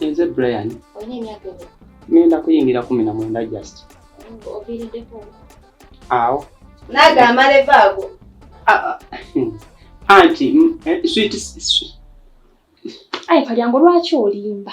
nze brian ngenda kuyingira kumi na mwenda just awo naga amaleva ago ah, ah. anti eh, sweet ayi kalyango lwaki olimba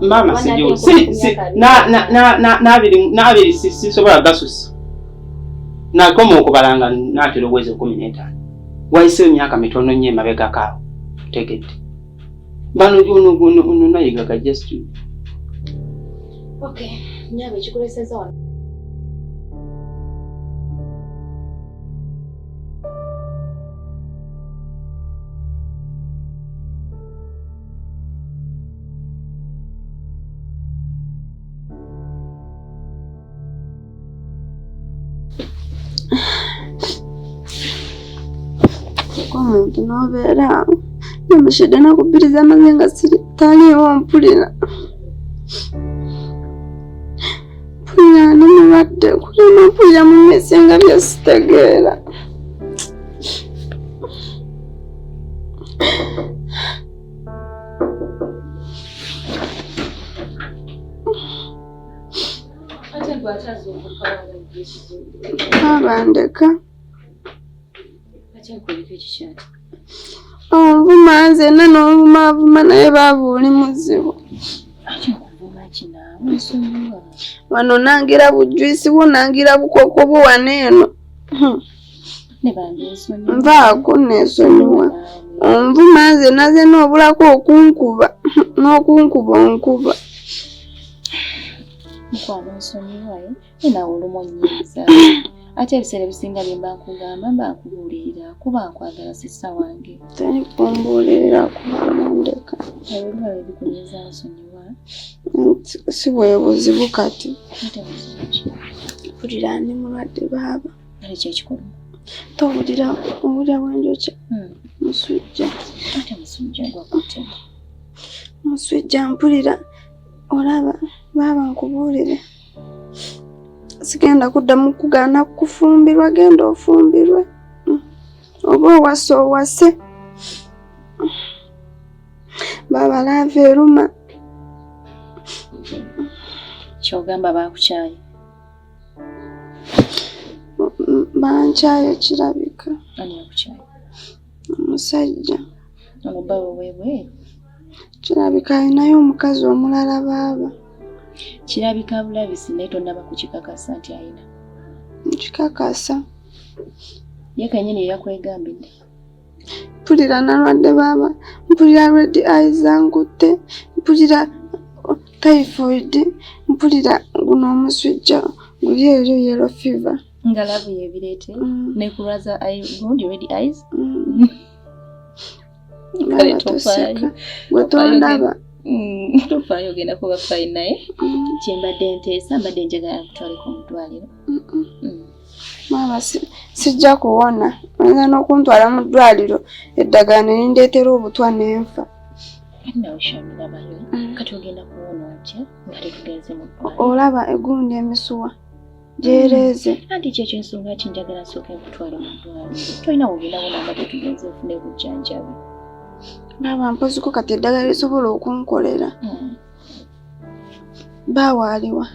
maama nabiri sisobola gasusa nakoma okubala nga natera obwezi ekumi netaano wayise emyaka mitono nnyo emabegako awo tegedde bano ononayigaga just okay nyabe kikuleseza wano omuntu n'obeera namushede nakubbiriza amaze nga taliiwo mpulira mpulira ndi mulwadde kulema mpulira mu mmese nga byesitegeera babandeka Onvuma nze na n'ovuma avuma naye baaba oli muzibu. Wano nangira bujwisi bwo nangira bukoko bwo wano eno. Hmm. Nvaako neesonyiwa. Onvuma nze naze n'obulako okunkuba n'okunkuba onkuba. Mukwano nsonyiwa ye. Eh? nawe olumu onnyiiza ate ebiseera ebisinga bye mba nkugamba mba nkubuulirira kuba nkwagala sisa wange teri kumbuulirira kubalandeka ebyo biba byebikunyiiza nsonyiwa si bwe buzibu kati mpulira ndi mulwadde baaba kale kyekikulu towulira owulira bwenjokya hmm. musujja ate musujja gwakute musujja mpulira olaba baaba nkubuulire sigenda kuddamu kugaana kufumbirwa genda ofumbirwe mm. oba owase owase baba laava eruma kyogamba bakukyaye bankyaye kirabika omusajja omubawe webweru Kirabika alinayo omukazi omulala baaba. Kirabika bulabisi naye tonnaba kukikakasa nti alina. Nkikakasa. Ye kennyini eyakwegambidde. Mpulira nalwadde baaba, mpulira red eye zankutte, mpulira typhoid, mpulira guno omusujja guli eyo yellow fever. Nga labu yebireete mm. nekulwaza eye gundi red eyes. Mm. kale tofaayo gwe tondaba mm, tofaayo ogenda kuba fayi naye mm. kyembadde nteesa mbadde njagala kutwalika omudwaliro mm. maama sijja kuwona oyinza n'okuntwala mu ddwaliro eddagala ne lindeetera obutwa n'enfa kati ogenda kuwona otya nga tetugenze mu olaba egundi emisuwa gyereeze mm. anti kyekyo ensonga ki njagala nsooka okutwala mudwali tolina wogenda bona nga tetugenze ofuna ebujjanjabi naaba mpoziko kati eddagala lisobola okunkolera mm. baawaaliwa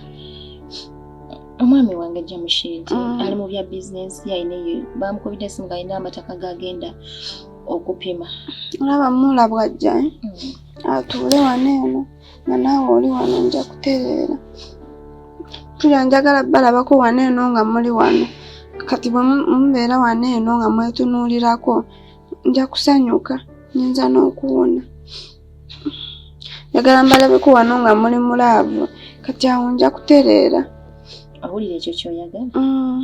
omwami wange jamushidi mm. ali mu bya bizinensi yalina eyo bamukubidde esimu ngaalina amataka gagenda okupima olaba mulabwajja eh? atuule wano eno nga naawe oli wano nja kutereera mpulira njagala balabako wano eno nga muli wano kati bwe mubeera wano eno nga mwetunuulirako nja kusanyuka nyinza n'okuwona njagala mbalabeko wano nga muli mulaavu kati awo nja kutereera owulira ekyo kyoyagala mm.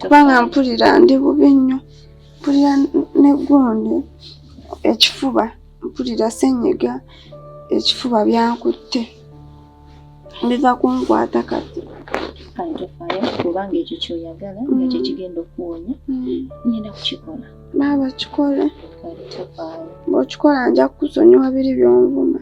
kubanga mpulira ndi bubi nnyo mpulira neggundi ekifuba mpulira senyiga ekifuba byankutte biva kunkwata kati kantofaayo kubanga ekyo kyoyagala nga mm. kyekigenda okuwonya mm. ngenda kukikola baaba kikole bwokikola nja kukusonyiwa biri byonvuma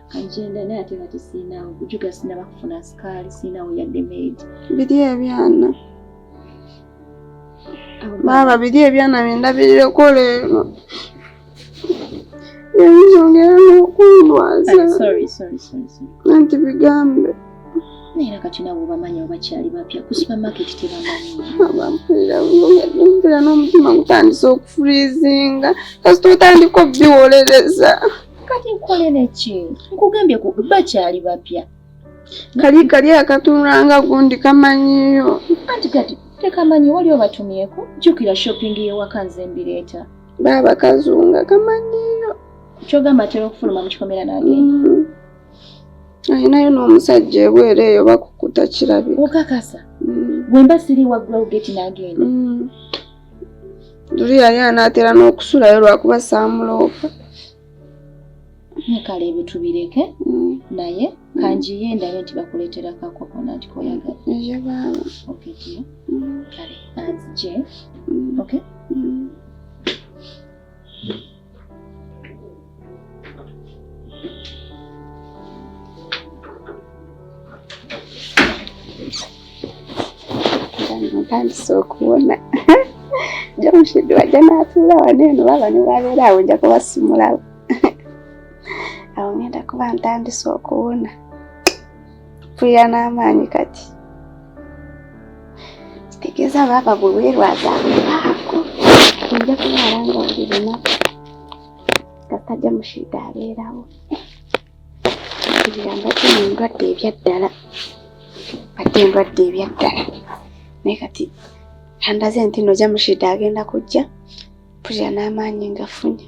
agenda naye ate kati siinawo bujuga sinaba kufuna sikaali siinawo yadde meedi biri ebyana baaba biri ebyana byendabirireko leero yayizongera n'okundwaza nanti bigambe naye kati nawe obamanyi obakyali bapya ku supermarket tebamanyimpera n'omutima gutandise okufurizinga kasita otandika obiwolereza kati nkole neki nkugambye ku bakyali bapya kali kali akatunulanga gundi kamanyiyo anti kati tekamanyi wali obatumyeko jukira shopping yewaka nze mbireeta baaba kazunga kamanyiyo kyogamba atera okufuluma mu kikomera nagenda mm. ayinayo n'omusajja ebweru eyo bakukuta kirabika okakasa mm. wemba siri waggulawo geti nagenda mm. luli yali anaatera n'okusulayo lwakuba saamuloopa kale ebyo tubireke mm. naye mm. kanjiye ndabe nti bakuleetera kakokonati koyagala mm. kale anzije okay ntandise okubona jomushidi wajja natuula wano eno baba niwabeera awo nja kubasimulawo awo ngenda kuba ntandise okuwona mpulira n'amaanyi kati kitegeeza baaba gwe weerwaza aako ojja kulwala nga buli lunaku nga tajja mushiida abeerawo mpulira mbadde mu ndwadde ebyaddala mbadde endwadde ebyaddala naye kati andaze nti no jamushida agenda kujja mpulira n'amaanyi ngafunye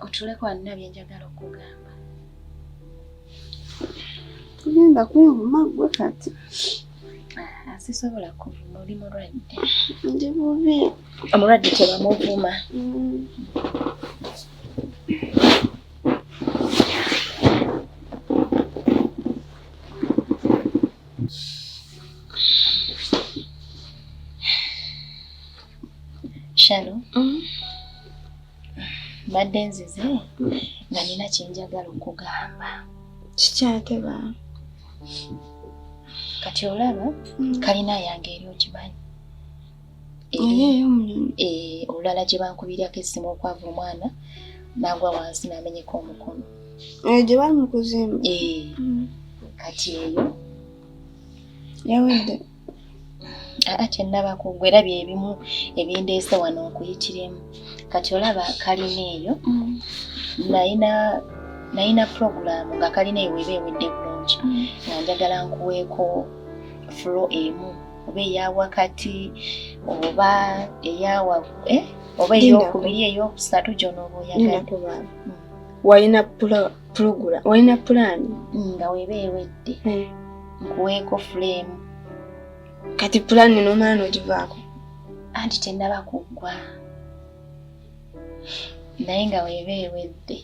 otuleko alina byenjagala okugamba tugenda kwevuma gwe kati ah, sisobola kuvuma oli mulwadde ndi bubi omulwadde tebamuvuma mm. Shalom. Mm. mbadde nzize nga nina kyenjagala okugamba kikyate ba kati olaba mm. kalina yange eri okimanyi eh, olulala gye bankubirako essimu okwava omwana nagwa wansi namenyeka omukono eh, gye bali mu kuzimba eh, mm. kati eyo yawedde aa kyennabako gwe era byebimu ebindeese wano nkuyitiremu kati olaba kalina eyo mm. nayina nayina pulogulaamu nga kalina eyo weba ewedde bulungi mm. nga njagala nkuweeko fulo emu oba eya wakati oba eyawa eh, oba eyokubiri eyokusatu gyonoba oyagala mm. wayina pulogula olina pulaani nga weba ewedde eh. nkuweeko fuleemu kati pulaani nomala nogivaako anti tenaba kuggwa naye nga weba ewedde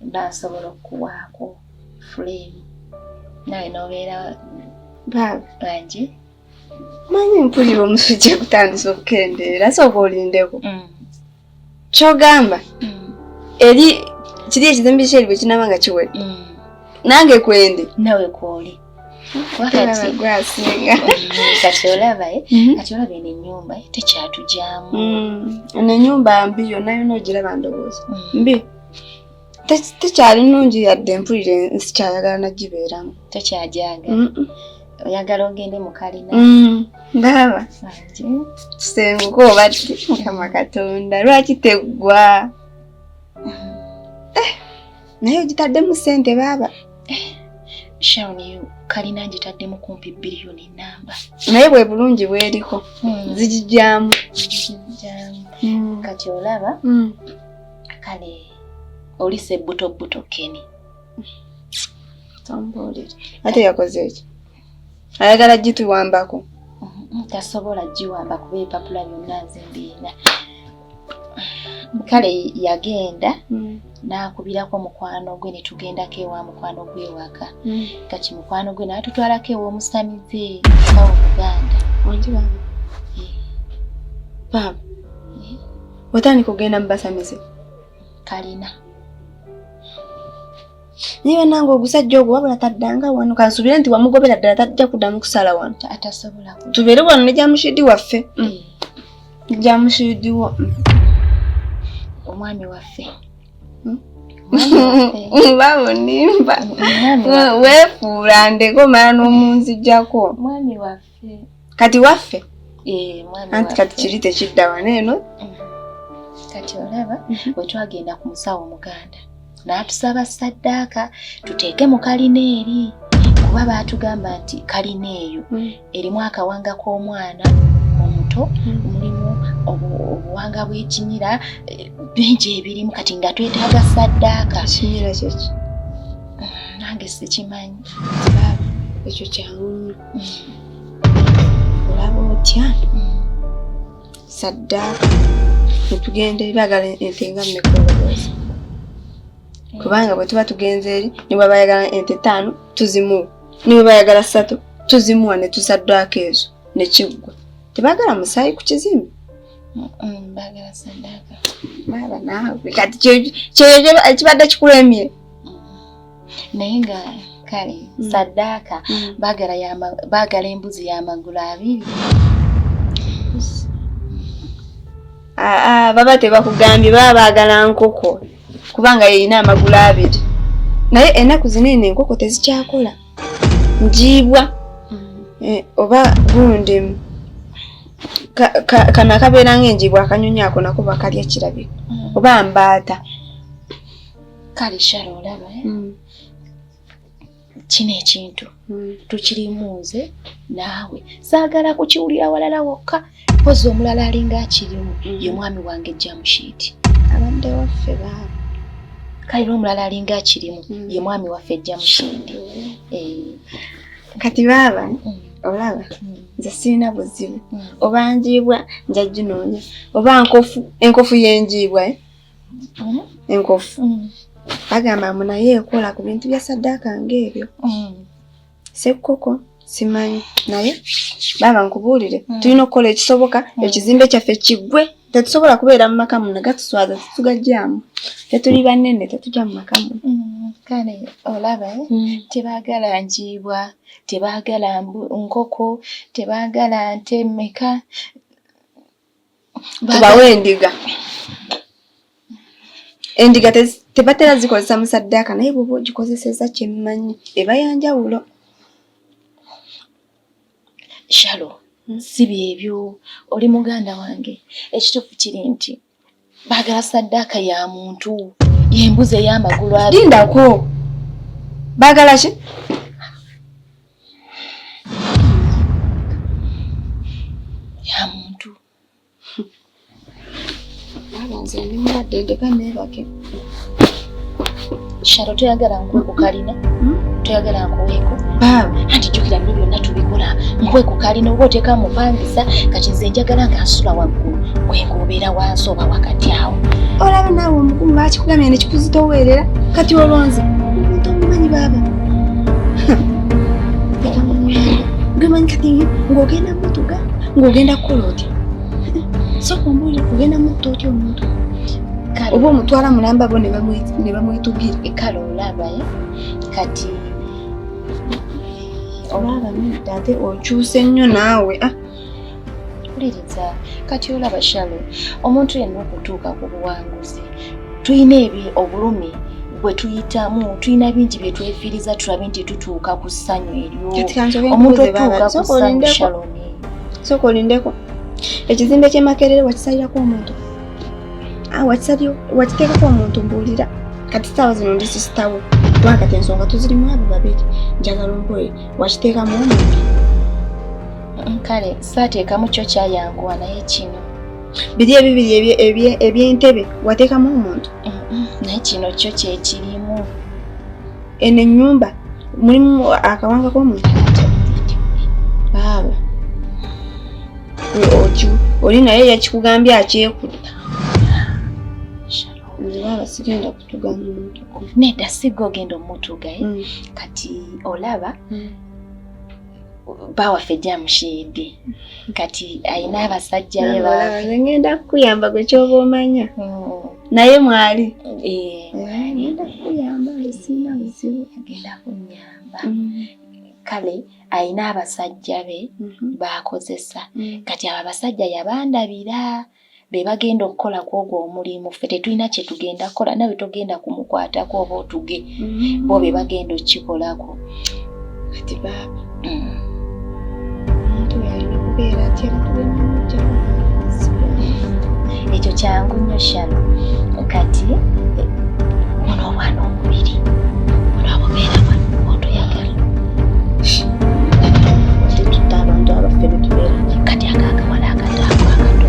mba nsobola okuwaako fuleemu nawe nobeera bangi manyi mpulira omusujja kutandisa okukendeera sooka olindeko mm. kyogamba mm. eri kiri ekizimbi kyeri bwe kinaba nga kiwera mm. nange kwendi nawe kwoli kati olaba eh? mm-hmm. kati olaba eno enyumba eh? tekyatugyamu mm. eno enyumba mbi yonna yona ogiraba ndowooza mm. mbi tekyali nungi yadde mpulire nsikyayagala nagibeeramu tekyajaagala oyagala ogende mukalina mm, ndaba kisenguka obadde mukama katonda lwaki teggwa eh, naye ogitaddemu sente baaba eh, shawn you kalina ngitaddemu kumpi biriyoni namba naye bwe bulungi bweriko hmm. zigijyamu hmm. kati olaba hmm. kale oli sebbuto bbuto keni tombuulire ate yakoze eki ayagala gituwambako mm-hmm. tasobola giwamba kuba ebipapula byonna nze mbiina kale yagenda mm. n'akubirako mukwano gwe ne tugendako ewa mukwano gwe ewaka mm. kati mukwano gwe n'atutwalako ew'omusamize awo muganda baaba eh. eh. otandika okugenda mu basamize kalina naye banange ogusajja ogwo wabula taddanga wano kansubire nti wamugobera ddala tajja kuddamu kusala wano atasobola tubeere wano ne jamushidi waffe mm. jamushidi wo mm. omwami waffe mm. babonimba wefuula ndeko mala n'omunzijako mwami waffe kati waffe eh, anti kati kiri tekidda wano eno mm. kati olaba mhm. bwe twagenda ku musawo omuganda n'atusaba saddaaka tuteeke mu kalina eri kuba baatugamba nti kalina eyo mm. erimu akawanga k'omwana omuto mm. mulimu obuwanga bw'ekimira eh, bingi ebirimu kati nga twetaaga saddaaka nange sikimanyi ekyo kyangu olaba otya saddaaka netugenda eri bagala ente nga mmekoloboozi kubanga bwe tuba tugenze eri niba bayagala ente taano tuzimuwa niba bayagala ssatu tuzimuwa ne tusaddaaka ezo ne kiggwa tebagala musaayi ku kizimbe bagala saddaaka baaba naawe kati kyeyo kibadde kikulemye naye nga kale mm. saddaaka mm. baagala embuzi y'amagulu abiri ah, ah, baba tebakugambye baba baagala nkoko kubanga yeyina amagulu abiri naye enaku zinene enkoko tezikyakola njiibwa mm. eh, oba gundi kano akabeera ngaenjiibwa akanyonyi ako nako bakalya kirabika oba mbaata kale shara olaba eh? mm. kino ekintu mm. tukirimu nze naawe saagala kukiwulira walala wokka mpozi omulala alinga akirimu mm. ye mwami wange jamushiti abadde waffe baaba kale n'omulala alinga akirimu mm. ye mwami waffe jamushindi mm. eh. kati baaba mm. olaba mm. nze sirina buzibu mm. oba njiibwa njajunoonya oba nkofu enkofu yenjiibwa eh? mm-hmm. enkofu mm. bagamba mbu naye ekola ku bintu bya saddaaka ng'ebyo mm. sekkoko simanyi naye baaba nkubuulire mm. tulina okukola ekisoboka ekizimbe kyaffe kiggwe tetusobola kubeera mu maka muno gatuswaza tetugajjamu tetuli banene tetujja mu maka muno mm, kale olaba eh? mm. tebagala njiibwa tebagala nkoko tebagala nte meka tubawe endiga endiga tebatera zikozesa musaddaaka naye bwoba ogikozeseza kyemmanyi eba yanjawulo shalo hmm. si byebyo oli muganda wange ekituufu kiri nti Baagala saddaaka ya muntu y'embuzi ey'amagulu abiri. Lindako. Baagala ki? Ya muntu. Baba nze ndi mulwadde ndeka neebake. sharo toyagala nkuwe ku kalina hmm? toyagala nkuweeko anti jjukira bino byonna tubikola nkuwe ku kalina oba oteeka mupangisa kati nze njagala nga nsula waggulu wenga obeera wansi oba wakati awo olaba naawe omukulu bakikugamya nekikuzitoweerera kati olonze omuntu omumanyi baaba gwemanyi kati ng'ogenda mutuga ng'ogenda kukola otya sokumbuli kugenda mutto otya omuntu oba omutwala mulamba bo ne bamwetugira ekala olabaye kati olaba nedda ate okyuse nnyo naawe ah. wuliriza kati olaba shalo omuntu yenna okutuuka ku buwanguzi tulina ebi obulumi bwe tuyitamu tulina bingi bye twefiiriza tulabe nti tutuuka ku ssanyu eryo omuntu otuuka ku ssanyu shaloni Sooka olindeko. Ekizimbe ky'e Makerere wakisalirako omuntu? Ah, wakisalyo wakiteekako omuntu mbuulira. Kati saawa zino ndi sisitawo. Kuba kati ensonga tuzirimu abo babiri. Njagala omboye wakiteekamu omuntu. Mm, kale saateekamu kyo kyayanguwa naye kino. Biri ebibiri eby'entebe wateekamu omuntu? Mm, mm, naye kino kyo kyekirimu. eno ennyumba mulimu akawanga k'omuntu baaba oli naye yakikugambye akyekutta baaba sigenda kutuga mumutuku nedda sigga ogenda omutugaye mm. kati olaba mm. bawaffe jamushidi kati ayina abasajja be baaba ngenda kukuyamba gwe kyoba omanya mm. naye mwali agenda kuyamba sina buzibu agenda kunyamba mm. kale alina abasajja be mm-hmm. baakozesa mm. kati abo abasajja yabandabira be bagenda okukola ku ogwo omulimu ffe tetulina kye tugenda kukola nawe togenda kumukwatako oba otuge mm-hmm. bo be bagenda okukikolako kati baaba mm. omuntu yalina okubeera atya ekyo kyangu nnyo shano kati ono obwana omubiri ono abubeera wano otoyagala tetutta abantu abaffe betubeera kati akakawala akataako akato